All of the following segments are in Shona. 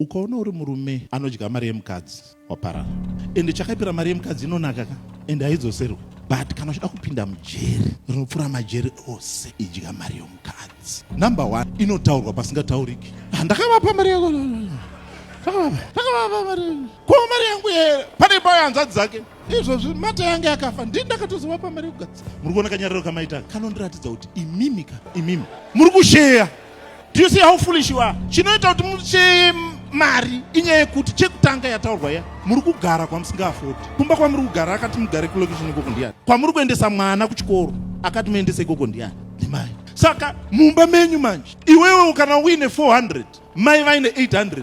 Ukaona uri murume anodya mari yemukadzi waparara ende chakaipira mari yemukadzi inonaka ka ende haidzoserwe but kana uchida kupinda mujeri rinopfuura majeri ose idya mari yomukadzi number one inotaurwa pasingatauriki ah, ndakavapa mari yako ndakavapa mari ko mari yangu here pane payo hanzvadzi dzake izvozvi mata yange akafa ndini ndakatozovapa mari yekugadzisa muri kuona kanyariro kamaita kanondiratidza kuti imimika imimi muri kusheya Do you see how foolish you are? Chinoita kuti muche mari inyaya yekuti chekutanga yataurwa ya muri kugara kwamusingafodi kumba kwamuri kugara akati mugare kulocation ikoko ndiyani kwamuri kuendesa mwana kuchikoro akati muendese ikoko ndiyani ndimai saka mumba menyu manje iwewe kana uine 400 mai vaine 800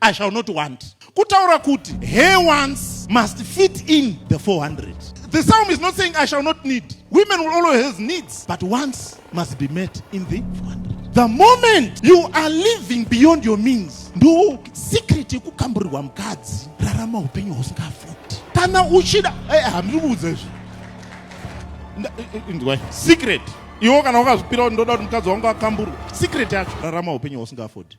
I shall not want. Kutaura kuti he wants must fit in the 400. The psalm is not saying I shall not need. Women will always have needs, but wants must be met in the 400. The moment you are living beyond your means, ndo secret yekukamburirwa mukadzi, rarama upenyu husingafoti. Kana uchida, eh, hamiri kuudza izvi. Ndwai, secret. Iwo kana wakazvipira ndoda kuti mukadzi wangu akamburwe. Secret yacho, rarama upenyu husingafoti.